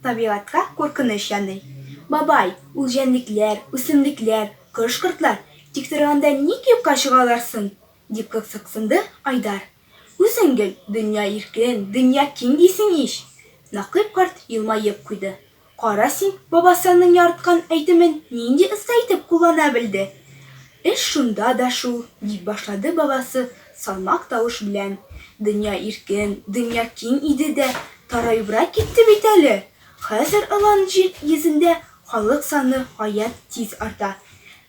табигатькә куркыныч яный. Бабай, ул җәнлекләр, үсемлекләр, кош-кортлар, тик торганда ник юкка чыгалар соң? дип кызыксынды Айдар. Үзең гел, дөнья иркен, дөнья киң дисең ич! Нәкыйп карт елмаеп куйды. Кара син, бабасының яраткан әйтемен нинди оста итеп куллана белде! Эш шунда да шул, дип башлады бабасы салмак тавыш белән. Дөнья иркен, дөнья киң иде дә, тараебрак китте бит әле. Хәзер Алан җир йөзендә халык саны гаять тиз арта.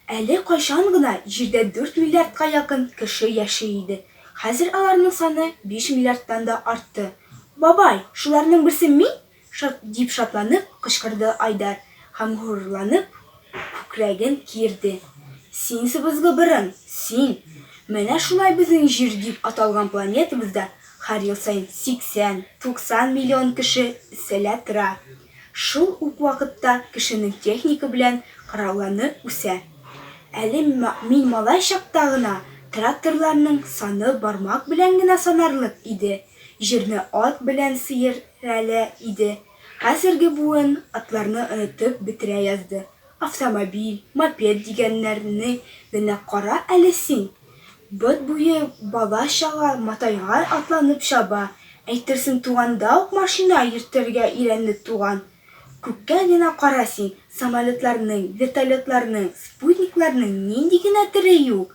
Әле кайчан гына Җирдә дүрт миллиардка якын кеше яши иде, хәзер аларның саны биш миллиардтан да артты. Бабай, шуларның берсе мин? Шат! дип шатланып кычкырды Айдар һәм горурланып күкрәген киерде. Син, сыбызгы борын, син! Менә шулай безнең Җир дип аталган планетабызда һәр ел саен 80-90 миллион кеше эсселә тора. Шул ук вакытта кешенең техника белән коралланы үсә. Әле мин малай чакта гына тракторларның саны бармак белән генә санарлык иде, җирне ат белән сыер Рәле иде. Хәзерге буын атларны онытып бетерә язды. Автомобиль, мопед дигәннәрне генә кара әле син! Бот буе бала-чага матайган атланып чаба, әйтерсең туганда ук машина йөртергә өйрәнде туган. Күккә генә кара син, самолетларның, вертолетларның, спутникларның нинди генә төре юк!